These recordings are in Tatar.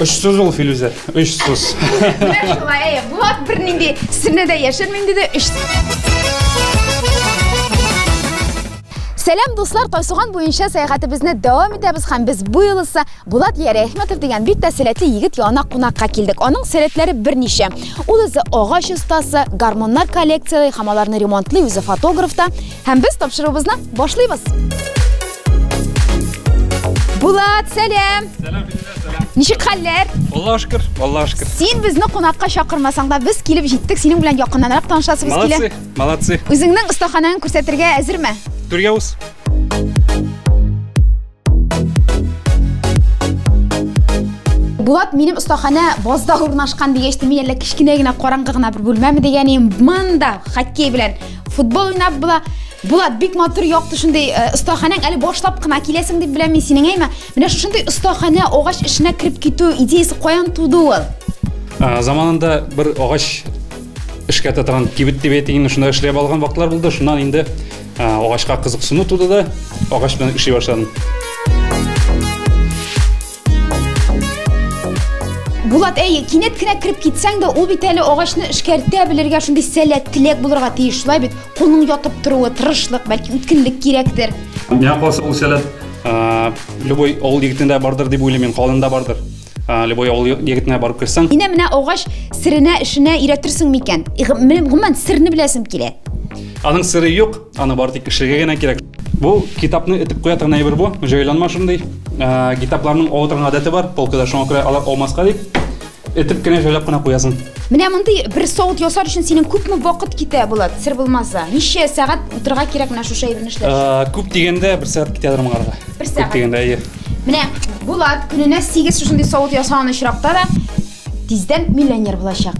Очсыз ул Филүзә, очсыз. Менә шулай, әйе, Булат бернинди сирне дә яшермим диде. Өч... Сәлам дуслар, Тайсуган буенча сәяхәтебезне дәвам итәбез һәм без бу юлысы Булат Ярәхмәтов дигән бик тә сәләтле егет янына кунакка килдек. Аның сәләтләре берничә. Ул үзе агач остасы, гармоннар коллекцияләй һәм аларны ремонтлый, үзе фотограф та. Һәм без тапшыруыбызны башлыйбыз. Булат, сәлам. Сәлам, сәлам. Ничек хәлләр? Аллаһ шөкер, Аллаһ шөкер. Син безне кунакка чакырмасаң да, без килеп җиттек. Синең белән якыннанрак танышасыбыз килә. Молодцы, молодцы. Үзеңнең остаханәңне күрсәтергә әзерме? Турьяус. Булат минем остахана базда урнашкан дигәч, мин әллә кечкенә генә караңгы гына бер бүлмәме дигән идем. Монда хоккей белән футбол уйнап була Булат, бик матур якты шундый э, остаханәң әле башлап кына киләсең дип беләм мин синең әйме. Менә шушындый остаханә агач эшенә кереп китү идеясе каян туды ул? Ә, заманында бер агач эшкә татырган кибет дип әйтик, инде шунда эшләп алган вакытлар булды. Шуннан инде ә, агачка кызыксыну туды да, агач белән эшли башладым. Булат, әй, кинәт кенә кереп китсәң дә, ул бит әле агачны эшкәртә белергә шундый сәләт теләк булырга тиеш. Шулай бит, кулның ятып торуы, тырышлык, бәлки үткенлек кирәктер. Миңа калса ул сәләт любой авыл егетендә бардыр дип уйлыйм мин, калында бардыр. Любой авыл егетенә барып керсәң. Инә менә агач сиренә эшенә өйрәтерсең микән? Гомумән, сирне беләсем килә. Аның сире юк, Аны бары тик кешегә генә кирәк. Бу китапны этеп куя торган әйбер бу. Җайланма шундый. Ә, китапларның ава торган гадәте бар полкада, шуңа күрә алар алмаска дип этеп кенә җайлап кына куясың. Менә мондый бер савыт ясар өчен синең күпме вакыт китә, Булат? Сер булмаса, ничә сәгать утырырга кирәк менә шушы әйберне эшләр? Ә, күп дигәндә бер сәгать китә дормыгарга. Бер сәгать. Күп дигәндә, әйе. Менә Булат көненә 8 шушындый савыт ясаган очракта да тиздән миллионер булачак.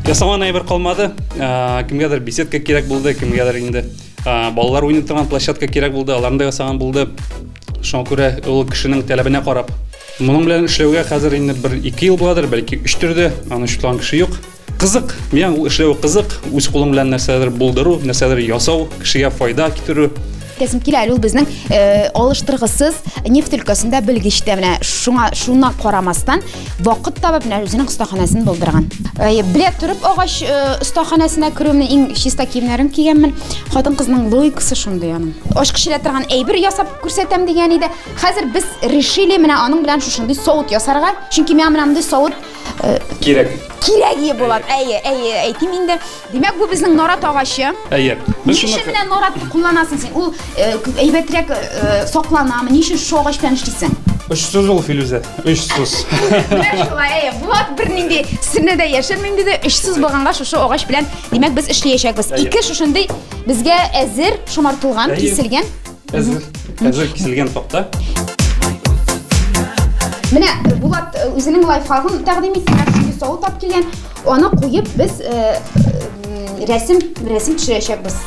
ясаман әйбер калмады ә, кемгәдер беседка кирәк булды кемгәдер инде ә, балалар уйный торган площадка кирәк булды аларны да ясаган булды шуңа күрә ул кешенең таләбенә карап моның белән эшләүгә хәзер инде бер ике ел буладыр бәлки өч төрде аны шутлан кеше юк кызык миңа ул эшләве кызык үз кулың белән нәрсәдер булдыру нәрсәдер ясау кешегә файда китерү Тәсим килә әле ул безнең алыштыргысыз нефть өлкәсендә белгеч тә менә шуңа шуна карамастан вакыт табып менә үзенең остаханәсен булдырган. Белә торып агач остаханәсенә керүемне иң чиста киемнәрем кигәнмен. Хатын кызның логикасы шундый аның. Ачкыч элә торган әйбер ясап күрсәтәм дигән иде. Хәзер без решили менә аның белән шушындый савыт ясарга. Чөнки миңа менә мондый савыт кирәк. Кирәге булат. Әйе, әйе, әйтим инде. Димәк, бу безнең нарат агачы. Әйе. Без шуны Ничек менә нарат кулланасың син? Ул әйбәтрәк сакланамы? Ничек шул агач белән эшлисең? Очсыз ул Филүзә, очсыз. Менә шулай, әйе. Булат бернинди сирне дә яшерми инде дә, очсыз булганга шушы агач белән, димәк, без эшләячәкбез. Ике шушындый безгә әзер шомартылган, киселгән Әзер, әзер киселгән такта. Менә Булат э, үзенең лайфхагын тәкъдим итте. Чөнки савыт алып килгән, аны куеп без э, э, рәсем рәсем төшерәчәкбез.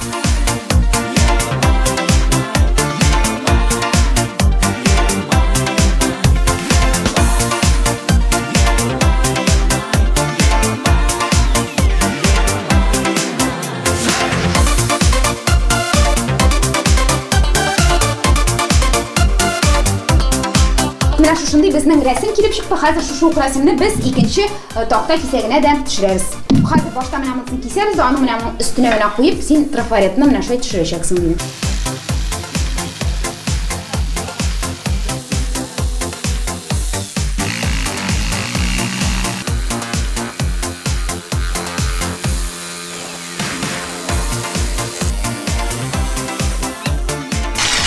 Менә шушындый безнең рәсем килеп чыкты. Хәзер шушы ук рәсемне без икенче э, такта кисәгенә дә төшерәбез. Хәзер башта менә монысын кисәбез, аны менә моның өстенә менә куеп, син трафаретны менә шулай төшерәчәксең дим.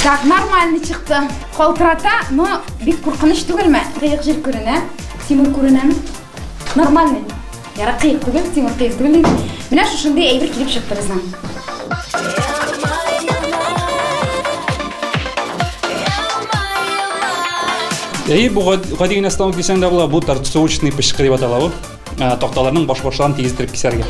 Так, нормально чыкты. Калтырата, но бик куркыныч түгелме? Кыек жир күренә, тимер күренәме? Нормальный. Яра кыек түгел, тимер кыек түгел. Менә шушындый әйбер килеп чыкты безнең. Әйе, бу гади генә станок дисәң дә була, бу торцовочный пешкыр дип атала бу. Ә, такталарның баш-башларын тигездереп кисәргә.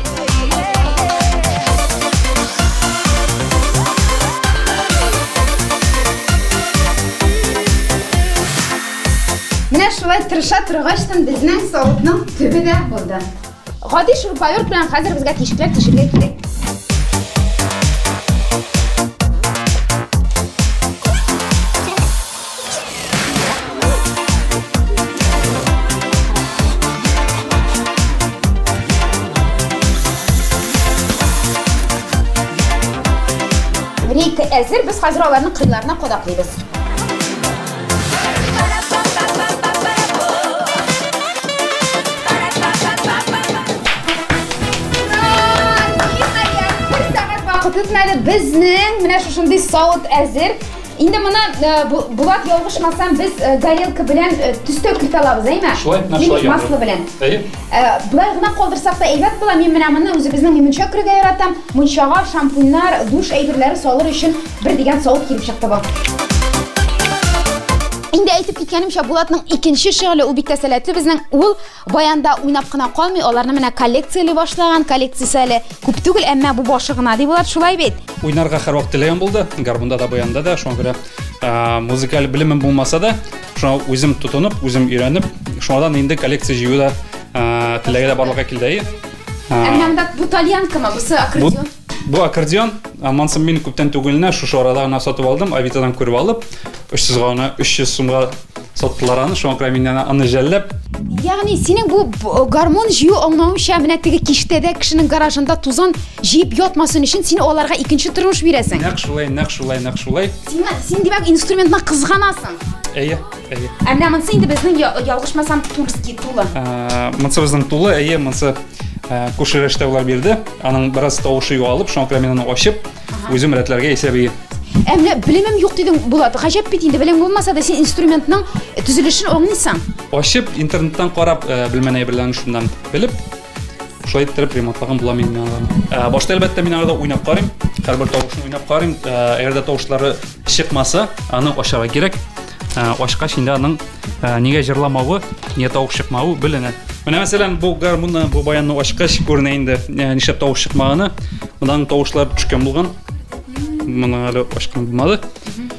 Менә шулай тырыша торгач, безнең савытның төбе дә булды. Гади шурпаверт белән хәзер безгә тишекләр тишергә кирәк. Рейка әзер, без хәзер аларны кыйларына кадаклыйбыз. Ура! Ниһаять, бер сәгать вакыт үтмәде, безнең менә шушындый савыт әзер. Инде моны э, Булат ялгышмасам, без э, горелка белән э, төстәү кертә алабыз, әйме? Шулай, менә шулай яңгыр. масло белән. Әйе. Болай гына калдырсак та әйбәт була. Мин менә моны үзебезнең мунча күрергә яратам. Мунчага шампуньнар, душ әйберләре салыр өчен бер дигән савыт килеп чыкты бу. Инде әйтеп киткәнемчә, Булатның икенче шөгыле ул бик тә сәләтле безнең. Ул Баянда уйнап кына калмый, аларны менә коллекцияли башлаган, коллекциясе әле күп түгел, әмма бу башы гына, ди Булат, шулай бит? Уйнарга һәрвакыт теләгем булды, гармунда да, баянда да, шуңа күрә музыкаль белемем булмаса да, шуңа үзем тотынып, үзем өйрәнеп, шуңадан инде коллекция җыю да теләге дә барлыкка килде. Әмма монда бу тальянкамы, бусы аккордеон? Бу аккордеон Амансым мин күптән түгел генә шушы арада гына сатып алдым, Авитадан күреп алып, 300 га гына 300 сумга саттылар аны, шуңа күрә миннән аны жәлләп. Ягъни синең бу гармон җыю аңлавымча, менә теге киштә дә кешенең гаражында тузан җыеп ятмасын өчен син аларга икенче тормыш бирәсең. Нәкъ шулай, нәкъ шулай, нәкъ шулай. Син, син димәк инструментны кызганасың. Әйе. Әйе. Ә менә монсы инде безнең ялгышмасам Тульский тулы. Ә, монсы безнең тулы, әйе, монсы ә, күрше рәштә улар бирде. Аның бераз тавышы югалып, шуңа күрә мин аны ачып, үзем рәтләргә исәп ие. Ә менә белемем юк дидең, Булат. Гаҗәп бит инде, белем булмаса да син инструментның төзелешен аңлыйсың. Ачып, интернеттан карап, ә, белмән әйберләрен шуннан белеп, Шулай иттереп ремонтлаган була мин минараны. Ә, башта әлбәттә мин арада уйнап карыйм, һәрбер тавышын уйнап карыйм. Ә, Әгәр дә тавышлары чыкмаса, аны ачарга кирәк. Ә, Ачкач инде аның ә, нигә җырламавы, нигә тавыш чыкмавы беленә. Менә мәсәлән, бу гармунны, бу баянны ачкач күренә инде, ә, нишләп тавыш чыкмаганы. Монда аның тавышлары төшкән булган. Моны әле ачкан булмады.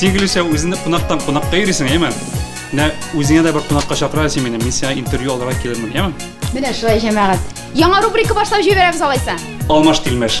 Сигелешә үзенә кунактан кунакка йөрисең, әйме? Менә үзеңә дә бер кунакка чакырасың син мине, мин сиңа интервью алырга килермен, әйме? Менә шулай җәмәгать. Яңа рубрика башлап җибәрәбез алайса. Алмаш тилмәш.